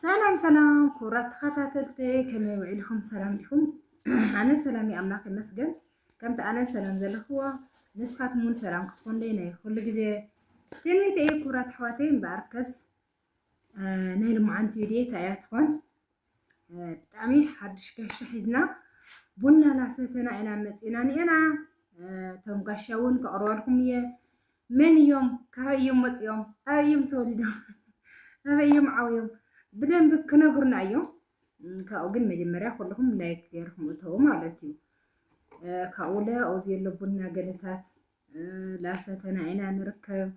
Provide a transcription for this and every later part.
ሰላም ሰላም ክቡራት ተኸታተልቲ ከመይ ውዒልኩም ሰላም ዲኹም? ኣነ ሰላም እዩ ኣምላኽ ይመስገን። ከምቲ ኣነ ሰላም ዘለኽዎ ንስኻትኩም እውን ሰላም ክትኮንለይ ናይ ኩሉ ግዜ ትንቢት እዩ። ክቡራት ኣሕዋተይ እምበኣርከስ ናይ ልምዓንቲ ድታ እያ ትኾን ብጣዕሚ ሓዱሽ ጋሻ ሒዝና ቡና ናሰተና ኢና መፂና ኒኤና እቶም ጋሻ እውን ከቕርበልኩም እየ መን እዮም ካበይ እዮም መፂኦም ኣበይ እዮም ተወሊዶም ኣበይ እዮም ዓብዮም ብደንብ ክነግሩና እዮም ካብኡ ግን መጀመርያ ኩልኹም ላይክ ገይርኩም እተው ማለት እዩ ካብኡ ለኦ ዘሎ ቡና ገለታት ላሰተና ኢና ንርከብ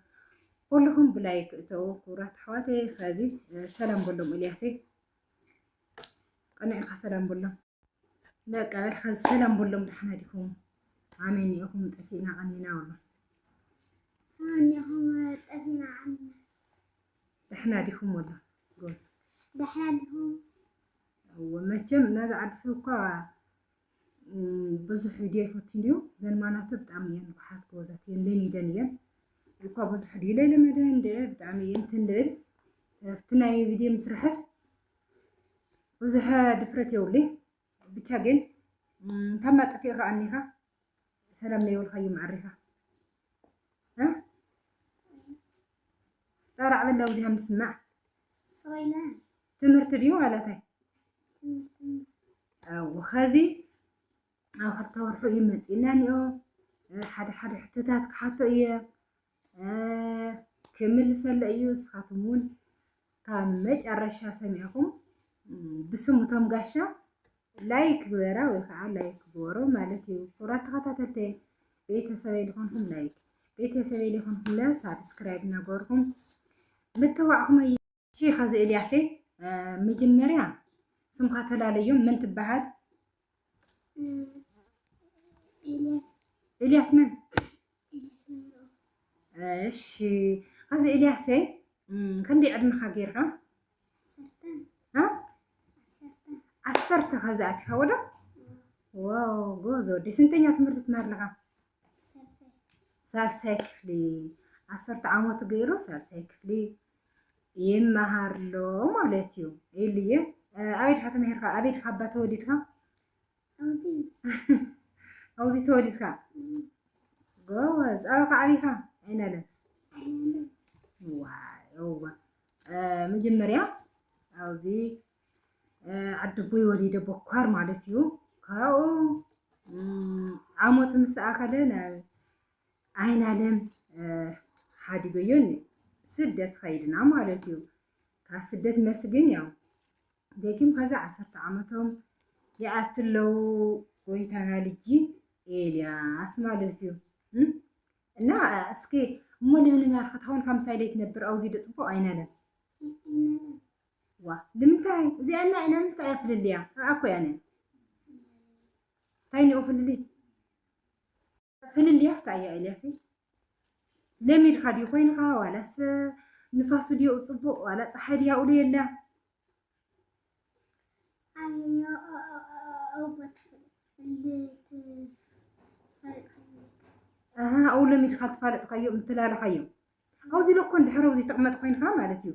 ኩልኹም ብላይ ክእተው ክብራት ኣሕዋተይ ከዚ ሰላም በሎም እልያሰይ ቀኒዕካ ሰላም በሎም በቃ በልካ ሰላም በሎም ደሓና ዲኹም ኣሜን ኢኹም ጠፊእና ቀኒና በሎ እኒኹም ጠፊእና ቀኒና ደሕና ዲኹም ወላ ጎስ ደሕና ዲኹም መቸም ናዚ ዓዲ ሰብ እኳ ብዙሕ ቪድዮ ይፈትን እዩ ዘን ማናተ ብጣዕሚ እየን ንቑሓት ጎበዛት እየን ለሚደን እየን እኳ ብዙሕ ድዩ ለይለመደ እንደ ብጣዕሚ እየን ትንልእል ኣብቲ ናይ ቪድዮ ምስራሕስ ብዙሕ ድፍረት የብሉይ ብቻ ግን ካብ ማጠፊኡ ከዓ እኒኻ ሰላም ለይብልካዩ መዓሪኻ ጠራዕ በላ ውዚሃ ምስማዕ ትምህርቲ ድዩ ማለተይ ኣዎ ኸዚ ኣብ ክልተ ወርሑ እዩ መፂእና እኒኦ ሓደ ሓደ ሕቶታት ክሓቶ እየ ክምልሰለ እዩ ንስኻትኩም እውን ካብ መጨረሻ ሰሚዕኹም ብስም እቶም ጋሻ ላይክ ግበራ ወይ ከዓ ላይክ ግበሩ ማለት እዩ ክቡራት ተኸታተልቲ ቤተሰበይ ዝኾንኩም ላይክ ቤተሰበይ ዝኾንኩም ለ ሳብስክራይብ እናገበርኩም ምትዋዕኹም እሺ ኸዚ ኤልያሰይ መጀመርያ ስምካ ተላለዮ መን ትበሃል? ኤልያስ መን? እሺ ኸዚ ኤልያሰይ ክንደይ ዕድመኻ ጌርካ? ዓሰርተ ኸዚ ኣቲኻ ወዶ ዋው ጎበዝ ወዲ ስንተኛ ትምህርቲ ትምህር ኣለኻ? ሳልሳይ ክፍሊ ዓሰርተ ዓመቱ ገይሩ ሳልሳይ ክፍሊ ይመሃር ኣሎ ማለት እዩ ኢልየ ኣበይ ድካ ተመሂርካ ኣበይ ድካ ኣባ ተወሊድካ ኣብዚ ተወሊድካ ጎበዝ ኣበካ ዓብይካ ኣይናለም ዋዋ መጀመርያ ኣብዚ ኣደቦይ ወሊደ ቦኳር ማለት እዩ ካብኡ ዓመቱ ምስ ኣኸለ ናብ ዓይናለም ሓዲገዮ ስደት ኸይድና ማለት እዩ ካብ ስደት መልሲ ግን ያው ደጊም ከዛ ዓሰርተ ዓመቶም ይኣቱ ኣለዉ ጎይታና ልጂ ኤልያስ ማለት እዩ እና እስኪ እሞ ለምለም ያልኸት አሁን ከምሳሌ ትነብር አውዚ ደጽቦ አይናለም ዋእ ልምንታይ እዚኣ እና ኢና ምስታ እያ ፍልልያ ኣኣ እኮ እያ ን ታይ ኒኦ ፍልልይ ፍልልያስ ታይ እያ ኤልያሰይ ለሚድካ ድዩ ኮይንካ ዋላስ ንፋሱ ድዮ ጽቡቅ ዋላ ፀሓይ ድያ ውሎ የላ ኣው ለሚድካ ትፋለጥካዮ ምትላለኻዮ ኣውዚ ለኮ እንድሕር ኣውዚ ትቕመጥ ኮይንካ ማለት እዩ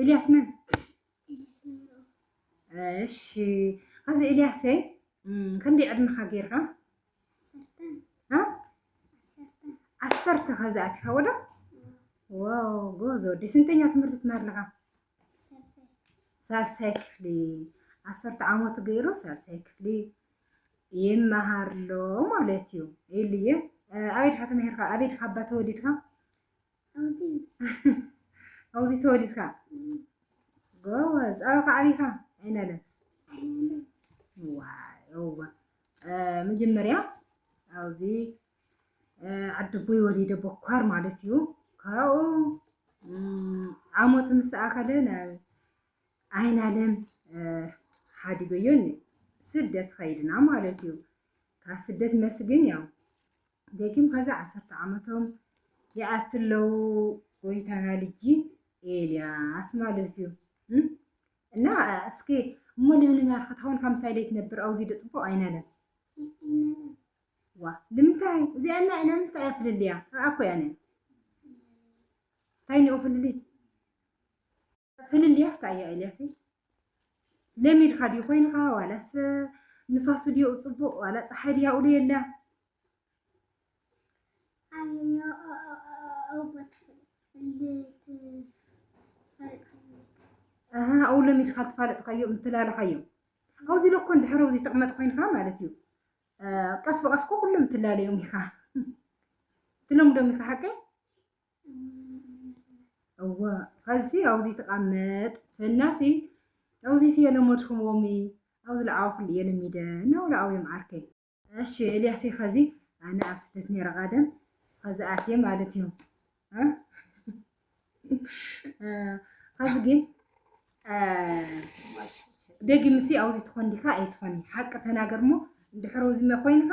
ኤልያስ መን? እሺ ኣዚ ኤልያሰይ ክንደይ ዕድመኻ ጌርካ? ዓሰርተ ከዚ ኣቲኻ ወዶ ዋው ጎበዝ ወዲ ስንተኛ ትምህርቲ ትምህር ኣለኻ? ሳልሳይ ክፍሊ ዓሰርተ ዓመቱ ገይሩ ሳልሳይ ክፍሊ ይመሃር ኣሎ ማለት እዩ ኤልየ ኣበይ ድካ ተመሂርካ ኣበይ ድካ ኣባ ተወሊድካ ኣብዚ ተወሊድካ ጎበዝ ኣበይ ከዓቢካ ኣይናለም ዋዋ መጀመርያ ኣብዚ ዓድቦይ ወሊደ ቦኳር ማለት እዩ ካብኡ ዓመቱ ምስ ኣኸለ ናብ ዓይናለም ሓዲገዮ ስደት ኸይድና ማለት እዩ ካብ ስደት መልሲ ግን ያው ደጊም ከዛ ዓሰርተ ዓመቶም ይኣቱ ኣለዉ ጎይታና ልጂ ኤልያስ ማለት እዩ እና እስኪ እሞ ልምልም ያርኸታውን ከምሳይ ደይ ትነብር ኣውዚ ደፅቡቅ ኣይናለም ዋ ልምንታይ እዚኣ እና ኢና ምስታ እያ ፍልልያ ኣኮ ያነ እንታይ ንኦ ፍልልይ ፍልልያስ ታይ እያ ኤልያሰይ ለሚድካ ድዩ ኮይንካ ዋላስ ንፋሱ ድዩ ፅቡቅ ዋላ ፀሓይ ድያ ውሉ የላ ኣብኡ ለሚድካ ትፋለጥካዮ ምትላለኻዮ ኣብዚ ለኮ እንድሕር ኣብዚ ተቕመጥ ኮይንካ ማለት እዩ ቀስ ብቀስኮ ኩሎም ትላለዮም ኢኻ ትለምዶም ኢኻ ሓቀይ እዋ ኸዚ ኣውዚ ተቓመጥ ተናሲ ኣውዚ ስየ ለመድኩም ዎሚ ኣውዚ ለዓዋ ኩሉ እየ ለሚደ ናውላ ኣውዮም ዓርከይ እሺ ኤልያሰይ ኸዚ ኣነ ኣብ ስደት ነይረ ቓደም ኸዚ ኣትየ ማለት እዩ ኸዚ ግን ደጊምሲ ኣውዚ ትኾን ዲኻ ኣይትኾን ሓቂ ተናገር እሞ እንድሕር ውዝመ ኮይንካ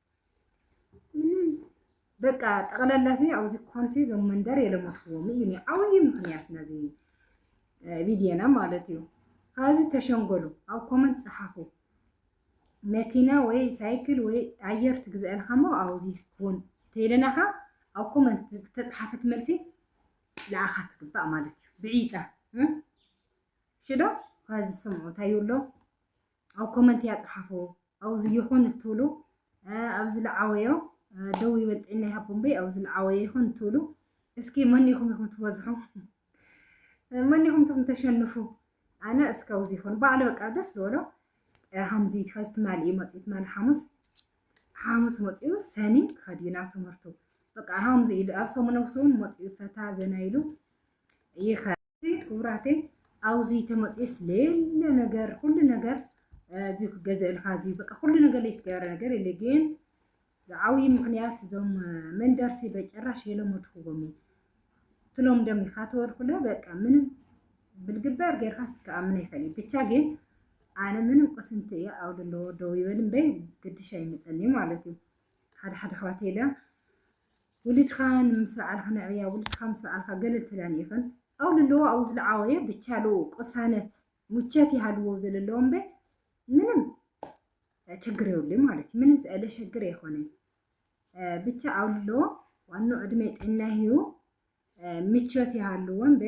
በቃ ጠቕላላ እዚ ኣብዚ ኮንሲ ዞም መንደር የለመትዎም እዩ ኒ ዓብዪ ምክንያት ነዚ ቪድዮና ማለት እዩ ካብዚ ተሸንገሉ ኣብ ኮመንት ፀሓፉ መኪና ወይ ሳይክል ወይ ኣየር ትግዝአልካ እሞ ኣብዚ ኩን ተይለናኻ ኣብ ኮመንት ተፅሓፈት መልሲ ንዓኻ ትግባእ ማለት እዩ ብዒጣ ሽዶ ካብዚ ዝሰምዑ እንታይ ይብሎ ኣብ ኮመንት እያ ፀሓፉ ኣውዚ ይኹን እትብሉ ኣብ ዝለዓወዮ ደው ይበል ጥዕና ይሃቦ እምበይ ኣብ ዝለዓወዮ ይኹን እትብሉ እስኪ መኒኹም ኢኹም ትበዝሑ መኒኹም ትኹም ተሸንፉ ኣነ እስከ ኣውዚ ይኹን ባዕሉ በቃ ደስ ዝበሎ ሃምዚ ከዚ ትማሊ እዩ መፅኡ ትማሊ ሓሙስ ሓሙስ መፅኡ ሰኒ ክኸድ እዩ ናብ ትምህርቱ በቃ ሃምዚ ኢሉ ኣብ ሰሙነ ውስውን መፅኡ ፈታ ዘና ኢሉ ይኸ ኣሕዋተይ ክብራተይ ኣውዚ ተመፅስ ሌለ ነገር ኩሉ ነገር እዚ ክገዘእልካ እዚ በቃ ኩሉ ነገር ላይ ትገበረ ነገር የለ ግን ዝዓብዪ ምክንያት እዞም መንደርሲ በጭራሽ የለመድኩዎም እዩ ትሎም ደም ኢካ ተወልኩለ በቃ ምንም ብልግበር ጌርካ ስከኣምን ኣይፈል ብቻ ግን ኣነ ምንም ቅስንቲ እየ ኣብ ዘለዎ ደው ይበል እምበይ ግድሻ ይመፀኒ ማለት እዩ ሓደ ሓደ ኣሕዋት የለ ውልድካ ምስ ለዓልካ ነዕብያ ውልድካ ምስ ለዓልካ ገለል ትብላን ኢኽን ኣው ልለዎ ኣው ዝለዓወየ ብቻሉ ቅሳነት ሙቸት ይሃልዎ ዘለለዎ እምበ ምንም ችግር የብሉ ማለት እዩ ምንም ስእለ ሸግር የኮነን ብቻ ኣው ልለዎ ዋኖ ዕድሜ ጤና ይህዩ ምቾት ይሃልዎ እምበ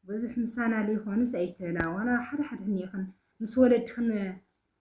ብዙሕ ምሳና ዘይኮኑስ ኣይትላወና ሓደ ሓደ እኒኢኽን ምስ ወለድኽን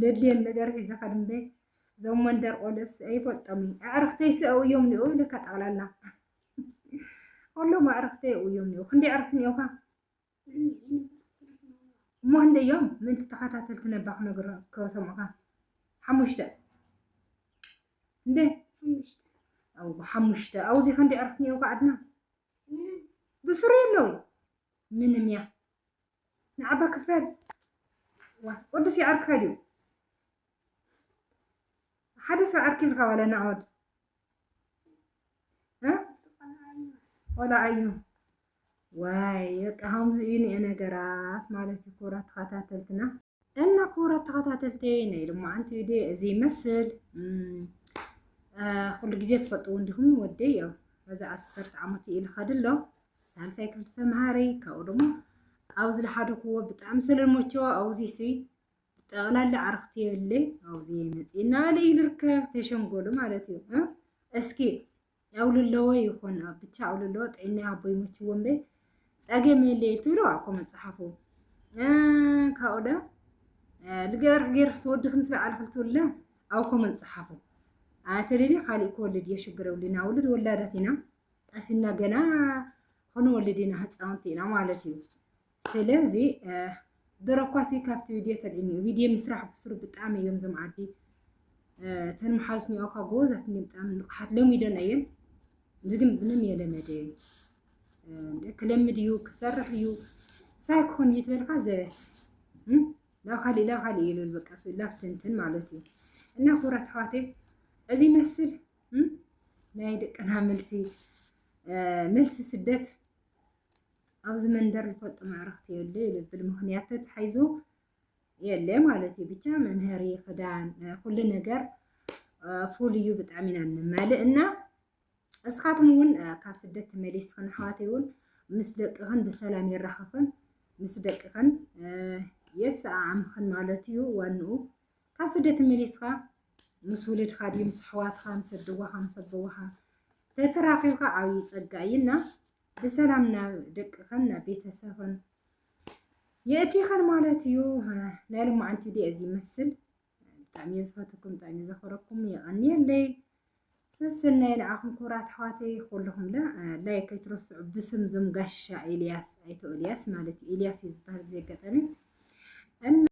ለድልየን ነገር ሒዘ ከድምበ እዞም መንደር ቆልዑስ ኣይፈልጦም እዩ ኣዕርኽተይስ ኣብኡ እዮም እኒኦ ኢለካ ጠቕላላ ኩሎም ኣዕርኽተይ ኣብኡ እዮም እኒኦ ክንደይ ኣዕርኽቲ እኒኦካ እሞ ክንደይ እዮም ምእንቲ ተኸታተልቲ ነባ ክነግሮ ከሰምዑኻ ሓሙሽተ እንደ ሓሙሽተ ኣብኡ እዚ ክንደይ ኣዕርኽቲ እኒኦካ ኣድና ብስሩ የለው ምንም እያ ንዓባ ክፈል ወድስ ይዓርክኻ ድዩ ሓደ ሰብ ዓርኪ ኢልካ ዋላ ናዖድ ቆልዓ እዩ ዋይ በቃ ከምዚ እዩ ነገራት ማለት እዩ ክቡራት ተኸታተልትና እና ክቡራት ተኸታተልቲ ናይ ልሙዓንቲ ቪድዮ እዚ ይመስል ኩሉ ግዜ ትፈልጥዎ እንዲኹም ወደይ ያው በዚ ዓሰርተ ዓመት እዩ ልኸድ ኣሎ ሳልሳይ ክፍሊ ተምሃሪ ካብኡ ደሞ ኣብ ዝለሓደኩዎ ብጣዕሚ ስለልመቸዎ ኣብዚ ሲ ጠቕላላ ዓርኽቲ የብለይ ኣብዚ መፂና ልዩ ልርከብ ተሸንጎሉ ማለት እዩ እስኪ ኣውልለዎ ይኹን ኣብ ብቻ ኣውልለዎ ጥዕና ይሃቦ ይመችዎ እምበይ ጸገም የለ ትብሎ ኣኮ መጽሓፉ ካብኡ ደ ልገርክ ገርክ ስወድክ ምስ በዓል ክልትውለ ኣኮ መጽሓፉ ኣተደሊ ካልእ ክወልድ እየ ሽግር የብልና ውልድ ወላዳት ኢና ቀሲና ገና ክንወልድ ኢና ህፃውንቲ ኢና ማለት እዩ ስለዚ ደረኳሲ ካብቲ ቪድዮ ተሪእኒ ቪድዮ ምስራሕ ብስሩ ብጣዕሚ እዮም ዞም ዓዲ እተን መሓዙት ኒኦ ካብ ጎበዛት እኒ ብጣዕሚ ንቕሓት ለሚደን እየን እዚ ግን ምንም የለመደ ክለምድ እዩ ክሰርሕ እዩ ሳይ ክኾን እዩ ትበልካ ዘበት ናብ ካሊእ ናብ ካሊእ ይብል በቃ ላፍትንትን ማለት እዩ እና ክብራት ኣሕዋተይ እዚ ይመስል ናይ ደቅና መልሲ መልሲ ስደት ኣብዚ መንደር ልፈልጦ መዕረኽቲ የለ ይልብል ምክንያት ተታሒዙ የለ ማለት እዩ ብቻ መምሀሪ ክዳን ኩሉ ነገር ፉል እዩ ብጣዕሚ ኢና ንማልእ እና እስኻትኩም እውን ካብ ስደት ተመሊስክን ኣሕዋተይ እውን ምስ ደቅኽን ብሰላም የራኽኽን ምስ ደቅኽን የሰኣኣምኽን ማለት እዩ ዋንኡ ካብ ስደት ተመሊስካ ምስ ውልድካ ድዩ ምስ ኣሕዋትካ ምስ ኣደዋኻ ምስ ኣቦዋኻ ተተራኺብካ ዓብዪ ፀጋ እዩ እና ብሰላም ናብ ደቅኽን ናብ ቤተሰብን የእቲኽን ማለት እዩ ናይ ልማዓንቲ ዲየ እዚ ይመስል ብጣዕሚ እየ ዝፈትኩም ብጣዕሚ እየ ዘኽብረኩም የቐንየለይ ስስናይ ንዓኹም ክብራት ኣሕዋተይ ኩልኹም ለ ላይክ ኣይትረስዑ ብስም ዞም ጋሻ ኤልያስ ኣይቶ ኤልያስ ማለት እዩ ኤልያስ እዩ ዝበሃል ብዘይ ኣጋጣሚ